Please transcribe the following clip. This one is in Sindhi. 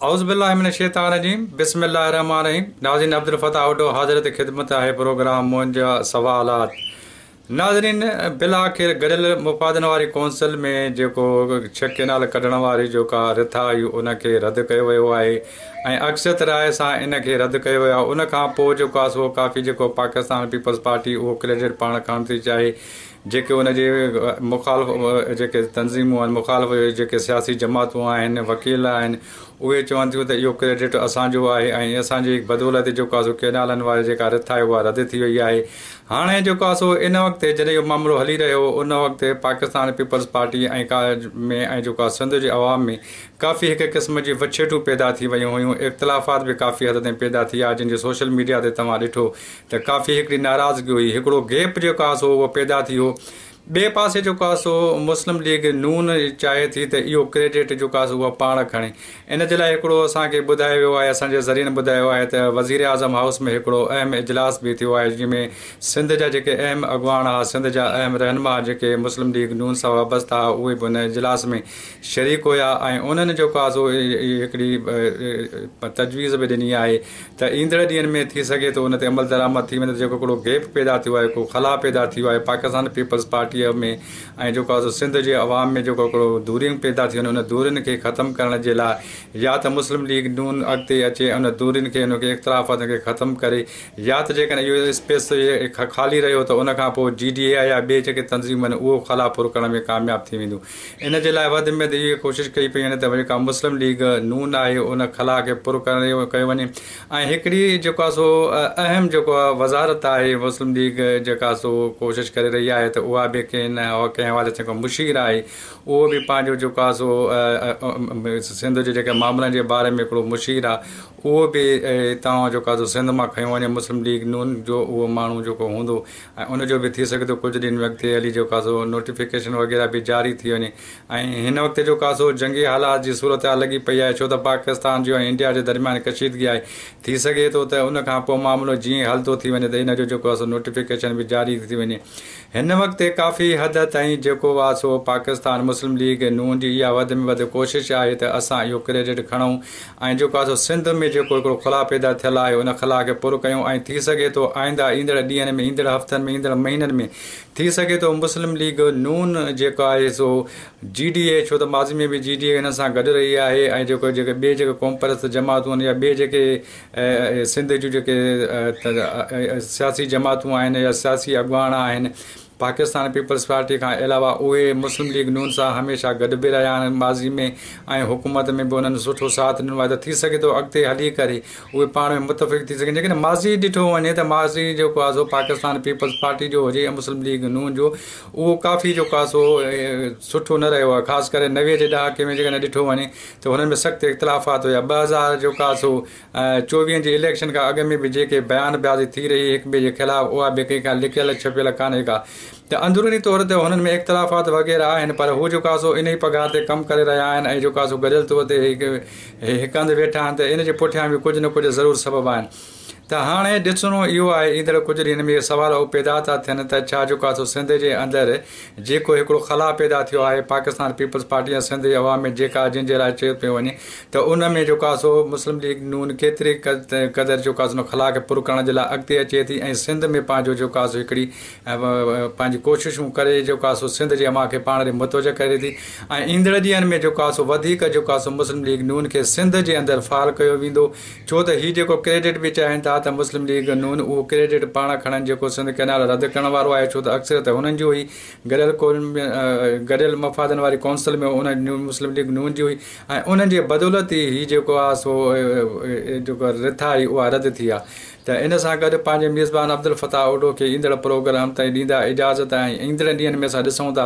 اعوذ بالله من الشيطان الرجيم بسم الله الرحمن الرحيم ناظرين عبدالفتاح اوڊو حاضر تي خدمت آهي پروگرام منهنجا سوالات ناظرين بلاخر گڏيل مفادن واري ڪونسل ۾ جيڪو ڇهه ڪينال ڪڍڻ واري جو ڪا رٿا آئي ان کي رد ڪيو ويو آهي ۽ اڪثريت راء سان ان کي رد ڪيو ويو آهي ان کان پوء جيڪو آسو ڪافي جيڪو پاڪستان پيپلز پارٽي اهو ڪريڊٽ پاڻ کڻڻ ٿي چاهي جيڪي ان جي مخالف جيڪي تنظيمون آهن مخالف جيڪي سياسي جماعتون آهن وڪيل آهن اهي چون ٿيون ته اهو ڪريڊٽ اسان جو آهي ۽ اسان جي بدولت جيڪو آهي سو ڪينالن واري جيڪا رٿ آهي اها رد ٿي وئي آهي هاڻي جيڪو آهي سو ان وقت جڏهن اهو معاملو هلي رهيو هو ان وقت پاڪستان پيپلز پارٽي ۽ ڪا ۾ ۽ جيڪو آهي سنڌ جي عوام ۾ ڪافي هڪ قسم جي وڇيٽون پيدا ٿي ويون هيون اختلافات به ڪافي حد تائين پيدا ٿي آهي جن جي سوشل ميڊيا تي توهان ڏٺو ته ڪافي هڪڙي ناراضگي هئي، هڪڙو گيپ جيڪو آسو هو اهو پيدا ٿي هو. ٻئي پاسي جيڪو آسو مسلم ليگ نون چاهي ٿي ته اهو ڪريڊٽ جيڪو آسو اها پاڻ کڻي. ان جي لاء هڪڙو اسان کي ٻڌايو ويو آهي اسان جي ذريعن ٻڌايو آهي ته وزيراعظم هائوس ۾ هڪڙو اهم اجلاس به ٿيو آهي جنهن ۾ سنڌ جا جيڪي اهم اڳواڻ ها سنڌ جا اهم رهنما جيڪي مسلم ليگ نون سان وابسته ها اهي به ان اجلاس ۾ شريڪ هيا ۽ انهن جيڪو آسو هڪڙي تجويز به ڏني آهي ته ايندڙ ڏينهن ۾ ٿي سگهي ٿو ان تي عملدرآمد ٿي وڃي ته جيڪو هڪڙو گيپ پيدا ٿيو آهي ڪو خلا پيدا ٿيو آهي پاڪستان پيپلز پارٽيء ۾ ۽ جيڪو آهي سو سنڌ جي عوام ۾ جيڪو هڪڙو دوريون پيدا ٿيون آهن ان دورين کي ختم ڪرڻ جي لاء يا ته مسلم ليگ نون اڳتي اچي ۽ ان دورين کي ان کي اختلافاتن کي ختم ڪري يا ته جيڪڏهن اهو اسپيس خالي رهيو ته ان کان پوء جي ڊي اي آء يا ٻي جيڪي تنظيمون آهن اهو خلا پر ڪرڻ ۾ ڪامياب ٿي وينديون ان جي لاء وڌ ۾ وڌ ڪوشش ڪئي پئي وڃي ته جيڪا مسلم ليگ نون آهي ان خلا کي پر ڪيو وڃي ۽ هڪڙي جيڪو آهي سو اهم جيڪو آهي وزارت آهي مسلم ليگ جيڪا آهي سو ڪوشش ڪري رهي آهي ته اها به ڪنهن ڪنهن حوالي سان جيڪو مشير آهي اهو به پنهنجو جيڪو آهي سو سنڌ جي جيڪي معاملن جي باري ۾ هڪڙو مشير آهي اهو به هتان جيڪو آهي سو سنڌ مان کنيو وڃي مسلم ليگ نون جو اهو ماڻهو جيڪو هوندو ۽ ان جو به ٿي سگهي ٿو ڪجهه ڏينهن وقت علي جو ڪاسو نوٽيفڪيشن وغيره به جاري ٿي وڃي ۽ هن وقت جو ڪاسو جنگي حالات جي صورتحال لڳي پئي آهي ڇو ته پاڪستان جو ۽ انڊيا جي درميان ڪشيدگي آهي ٿي سگهي ٿو ته ان کان پوء معاملو جيئن ئي حل ٿو ٿي وڃي ته ان جو جيڪو آسو نوٽيفڪيشن به جاري ٿي وڃي هن وقت ڪافي حد تائين جيڪو آسو پاڪستان مسلم ليگ نون جي اها وڌ ۾ وڌ ڪوشش آهي ته اسان اهو ڪريڊٽ کڻون ۽ جيڪو اسان سنڌ ۾ جيڪو هڪڙو خلا پيدا ٿيل آهي ان خلا کي پر ڪيون ۽ ٿي سگهي ٿو آئنده ايندڙ ڏينهن ۾ ايندڙ هفتن ۾ ايندڙ مهينن ۾ ٿي سگهي ٿو مسلم ليگ نون جيڪو آهي سو جي ڊي اي ڇو ته ماضي ۾ به جي ڊي اي هنن سان گڏ رهي آهي ۽ جيڪو جيڪي ٻي جيڪي قوم پرست جماعتون يا ٻي جيڪي سنڌ جون جيڪي سياسي جماعتون آهن يا سياسي اڳواڻ آهن پاڪستان پيپلز پارٽي کان علاوه اهي مسلم ليگ نون سان هميشه گڏ به رهيا آهن ماضي ۾ ۽ حڪومت ۾ به انهن سٺو ساٿ ڏنو آهي ته ٿي سگهي ٿو اڳتي هلي ڪري اهي پاڻ ۾ متفق ٿي سگهن جيڪڏهن ماضي ڏٺو وڃي ته ماضي جيڪو آهي سو پاڪستان پيپلز پارٽي جو هجي يا مسلم ليگ نون جو اهو ڪافي جيڪو آهي سو سٺو نه رهيو آهي خاص ڪري نوي جي ڏهاڪي ۾ جيڪڏهن ڏٺو وڃي ته هنن ۾ سخت اختلافات هيا ٻه هزار جيڪو آهي سو چوويهن جي اليڪشن کان اڳ ۾ به جيڪي بيان بازي ٿي رهي هڪ ٻئي جي خلاف اها به ڪنهن کان لڪيل ڇپيل ڪانهي ڪا ته اندروني طور تي هنن ۾ اختلافات وغيره آهن پر هو جيڪا سو انهي پگهار تي ڪم ڪري رهيا آهن ۽ جيڪا سو گڏيل طور تي هڪ هنڌ ويٺا آهن ته ان جي پٺيان به ڪجهه نه ڪجهه ضرور سبب آهن ته هاڻي ڏسڻو اهو آهي ايندڙ ڪجهه ڏينهن ۾ اهي سوال اهو پيدا ٿا ٿين ته ڇا جيڪا سو سنڌ جي اندر جيڪو هڪڙو خلا پيدا ٿيو آهي پاڪستان پيپلز پارٽي ۽ سنڌ جي عوام ۾ جيڪا جنهن جي لاء چيو پيو وڃي ته ان ۾ جيڪو آسو مسلم ليگ نون ڪيتري قدر جيڪو آسو ان خلا کي پر ڪرڻ جي لاء اڳتي اچي ٿي ۽ سنڌ ۾ پنهنجو جيڪو آسو هڪڙي پنهنجي ڪوششون ڪري جيڪو آسو سنڌ جي عوام کي پاڻ ڏي متوجه ڪري ٿي ۽ ايندڙ ڏينهن ۾ جيڪو آسو وڌيڪ جيڪو آسو مسلم ليگ نون کي سنڌ جي اندر فعال ڪيو ويندو ڇو ته هي جيڪو ڪريڊٽ به چاهين ٿا ته مسلم ليگ نون اهو ڪريڊٽ پاڻ کڻن جيڪو سنڌ ڪئنال رد ڪرڻ وارو آهي ڇو ته اڪثريت هنن جي هئي گڏيل قوم گڏيل مفادن واري ڪونسل ۾ ان نون مسلم ليگ نون جي هئي ۽ انهن جي بدولت ئي هي جيڪو آهي سو جيڪو رٿا هئي اها رد ٿي آهي ته ان سان گڏ پنهنجي ميزبان عبدالفتاح اوڍو کي ايندڙ پروگرام تائين ڏيندا اجازت ۽ ايندڙن ڏينهن ۾ اسان ڏسون ٿا